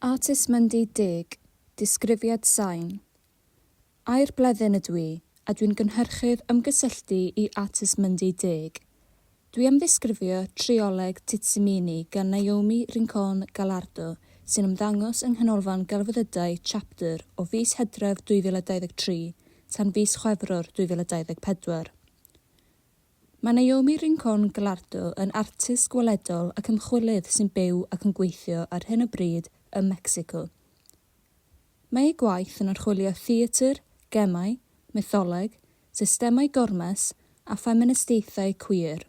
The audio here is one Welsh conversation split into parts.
Artist Mundy Deg disgrifiad sain Air Bleddyn ydw i a dwi'n gynhyrchydd Ymgysylltu i Artist Mundy Deg Dwi am ddisgrifio trioleg Titsimini gan Naomi Rincon Gallardo sy'n ymddangos yng Nghanolfan Gelfyddydau Chapter o fis Hydref 2023 tan fis Chwefror 2024. Mae Naomi Rincon Gallardo yn artist gweledol ac ymchwilydd sy'n byw ac yn gweithio ar hyn o bryd ym Mecsico. Mae ei gwaith yn archwilio theatr, gemau, mytholeg, systemau gormes a ffeministiaethau cwiar.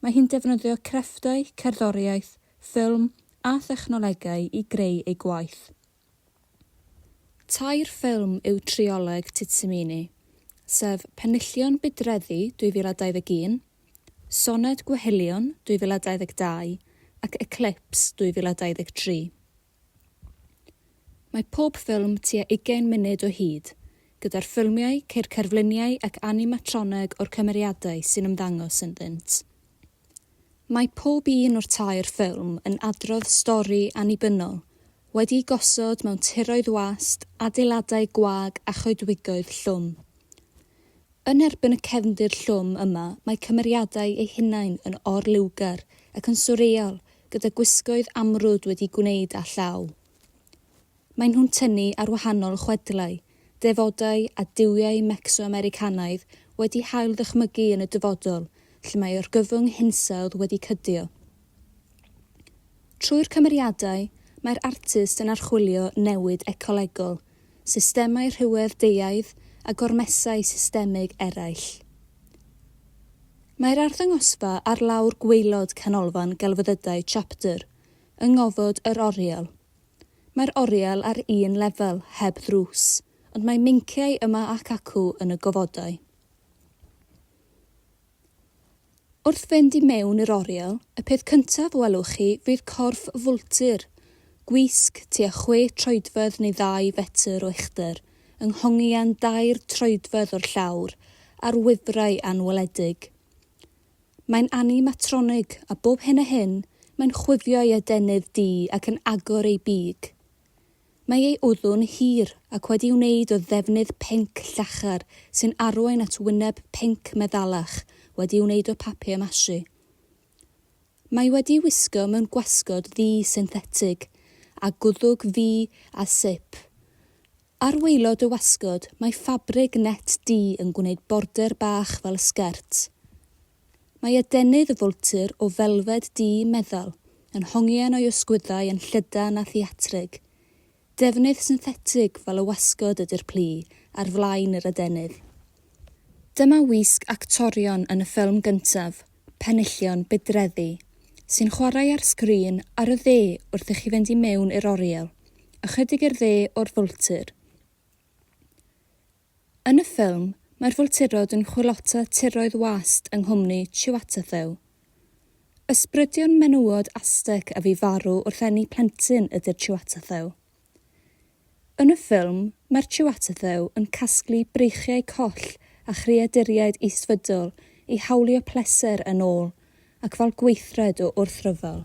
Mae hi'n defnyddio crefftau, cerddoriaeth, ffilm a thechnolegau i greu ei gwaith. Tair ffilm yw trioleg Titsimini, sef Penillion Budreddi 2021, Soned Gwehylion 2022 ac Eclipse 2023. Mae pob ffilm tua ugain munud o hyd, gyda'r ffilmiau, ceir cerfluniau ac animatroneg o'r cymeriadau sy'n ymddangos ynddynt. Mae pob un o'r tair ffilm yn adrodd stori annibynnol, wedi'i gosod mewn tiroedd wast, adeiladau gwag a choedwigoedd llwm. Yn erbyn y cefndir llwm yma mae cymeriadau eu hunain yn or-liwgar ac yn swreal gyda gwisgoedd amrwd wedi'u gwneud â llaw. Maen nhw'n tynnu ar wahanol chwedlau, defodau a duwiau Mecso-Americanaidd wedi hail ddychmygu yn y dyfodol lle mae orgyfwng hinsawdd wedi cydio. Trwy'r cymeriadau, mae'r artist yn archwilio newid ecolegol, systemau rhywedd deuaidd a gormesau systemig eraill. Mae'r arddangosfa ar lawr gwaelod Canolfan Gelfyddydau Chapter yng ngofod yr oriel. Mae'r oriel ar un lefel, heb ddrws, ond mae meinciau yma ac acw yn y gofodau. Wrth fynd i mewn i'r oriel, y peth cyntaf welwch chi fydd corff fwltur, gwisg tua chwe troedfedd neu ddau fetr o uchder, yng nghongian dair troedfedd o'r llawr, ar wifrau anweledig. Mae'n animatronig, a bob hyn a hyn, mae'n chwifio ei adenydd du ac yn agor ei big. Mae ei wddw'n hir ac wedi'i wneud o ddefnydd pinc llachar sy'n arwain at wyneb pinc meddalach wedi'i wneud o papier mache. Mae wedi'i wisgo mewn gwasgod ddu synthetig, a gwddwg ddu a sip. Ar waelod dy wasgod mae ffabrig net du yn gwneud border bach fel sgert. Mae adenydd y fwltur o felfed du meddal yn hongian o'i ysgwyddau yn llydan a theatrig. Defnydd synthetig fel y wasgod ydy'r plu ar flaen yr adenydd. Dyma wisg actorion yn y ffilm gyntaf, penillion bydreddu sy'n chwarae ar sgrin ar y dde wrth i chi fynd i mewn i'r oriel, ychydig i'r dde o'r fwltur. Yn y ffilm, mae'r fwlturod yn chwilota tiroedd wast yng nghwmni Chiweteltheu. Ysbrydion menywod Aztec a fu farw wrth eni plentyn ydy'r Chiweteltheu. Yn y ffilm, mae'r Chiweteltheu yn casglu breichiau coll a chreaduriaid isfydol i hawlio pleser yn ôl ac fel gweithred o wrthryfel.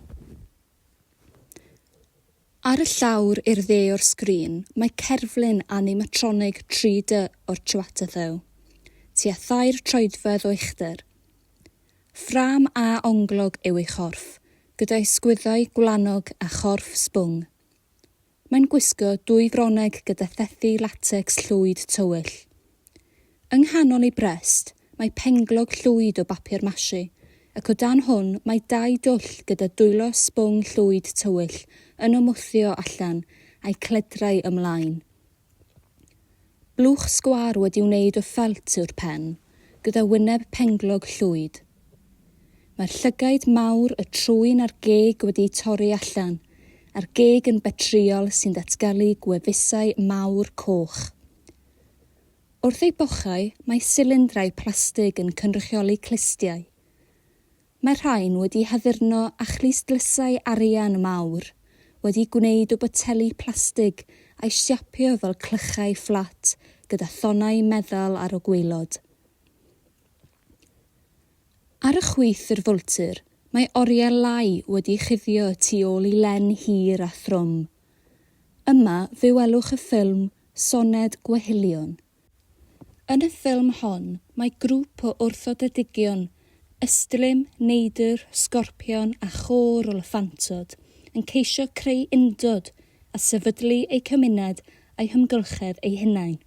Ar y llawr i'r dde o'r sgrin mae cerflun animatronig 3D o'r Chiweteltheu, tua thair troedfedd o uchder. Ffrâm A onglog yw ei chorff, gyda'i sgwyddau gwlanog a chorff sbwng. Mae'n gwisgo dwy frowneg gyda thethi latecs llwyd tywyll. Yng nghanol ei brest, mae penglog llwyd o bapur mashi, ac o dan hwn mae dau dwll gyda dwylo sbwng llwyd tywyll yn ymwthio allan a'i cledrau ymlaen. Blwch sgwâr wedi wneud o ffelt yw'r pen, gyda wyneb penglog llwyd. Mae'r llygaid mawr, y trwyn a'r geg wedi'u torri allan, a'r geg yn betrïol sy'n datgelu gwefusau mawr coch. Wrth ei bochau, mae silindrau plastig yn cynrychioli clustiau. Mae rhain wedi haddurno â chlustdlysau arian mawr, wedi gwneud o boteli plastig a'i siapio fel clychau fflat gyda thonnau meddal ar y gwaelod. Ar y chwith i'r fwltur, mae oriel lai wedi chuddio y tu ôl i len hir a thrwm. Yma fe welwch y ffilm Soned Gwehylion. Yn y ffilm hon, mae grŵp o wrthodedigion, ystlum, neidr, sgorpion a chôr o lyffantod, yn ceisio creu undod a sefydlu eu cymuned a'u hymgylchedd eu hunain.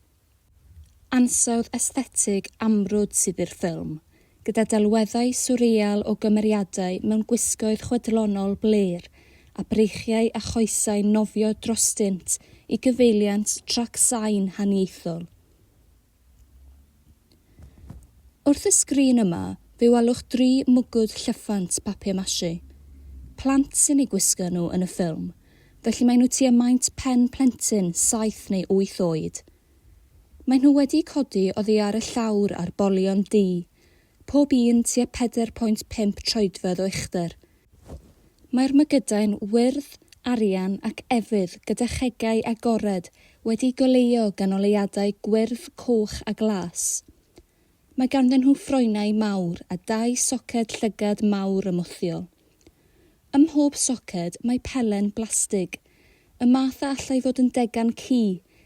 Ansawdd esthetig amrwd sydd i'r ffilm. gyda delweddau swreal o gymeriadau mewn gwisgoedd chwedlonol blêr, a breichiau a choesau'n nofio drostynt i gyfeiliant trac sain haniaethol. Wrth y sgrin yma, fe welwch dri mwgwd llyffant papier-mâché. Plant sy'n eu gwisgo nhw yn y ffilm, felly maen nhw tua maint pen plentyn saith neu wyth oed. Maen nhw wedi codi oddi ar y llawr ar bolion du, pob un tua 4.5 troedfedd o uchder. Mae'r mygydau'n wyrdd, arian ac efydd gyda chegau agored wedi goleuo ganoliadau gwyrdd, coch a glas. Mae ganddyn nhw ffroenau mawr a dau soced llygad mawr ymwthiol. Ym mhob soced mae pelen blastig, y math a allai fod yn degan ci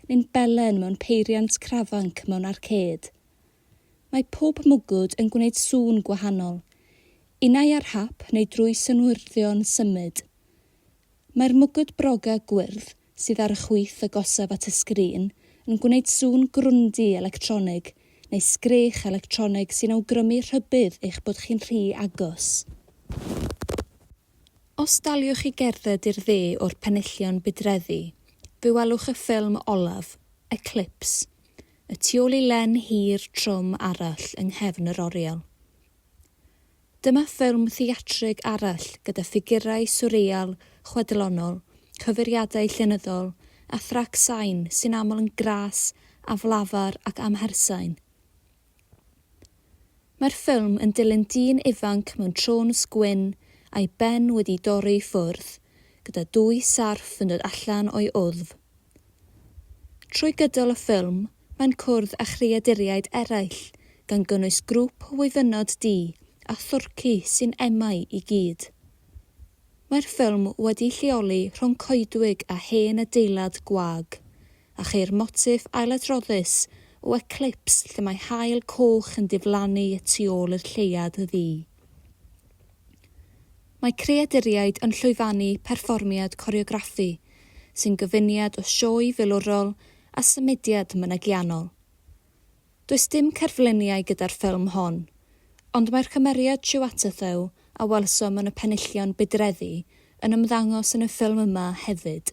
neu'n belen mewn peiriant crafanc mewn arcêd. Mae pob mwgwd yn gwneud sŵn gwahanol, unai ar hap neu drwy synwyrddio'n symud. Mae'r mwgwd broga gwyrdd sydd ar y chwith agosaf at y sgrin yn gwneud sŵn grwndi electronig neu sgrech electronig sy'n awgrymu rhybudd eich bod chi'n rhy agos. Os daliwch i gerdded i'r dde o'r penillion budreddi, fe welwch y ffilm olaf, Eclipse, y tu ôl i len hir trwm arall yng nghefn yr oriel. Dyma ffilm theatrig arall gyda ffigurau swreal chwedlonol, cyfeiriadau llenyddol, a thrac sain sy'n aml yn gras, aflafar ac amhersain. Mae'r ffilm yn dilyn dyn ifanc mewn trôns gwyn a'i ben wedi dorri i ffwrdd, gyda dwy sarff yn dod allan o'i wddf. Trwy gydol y ffilm, mae'n cwrdd â chreaduriaid eraill, gan gynnwys grŵp o wyfynod du a thwrci sy'n emau i gyd. Mae'r ffilm wedi'i lleoli rhwng coedwig a hen adeilad gwag, a cheir motiff ailadroddus o eclips lle mae haul coch yn diflannu y tu ôl i'r lleuad ddu. Mae creaduriaid yn llwyfannu perfformiad coreograffu sy'n gyfuniad o sioe filwrol a symudiad mynegiannol. Does dim cerfluniau gyda'r ffilm hon, ond mae'r cymeriad Chiweteltheu a welsom yn y penillion budreddi yn ymddangos yn y ffilm yma hefyd.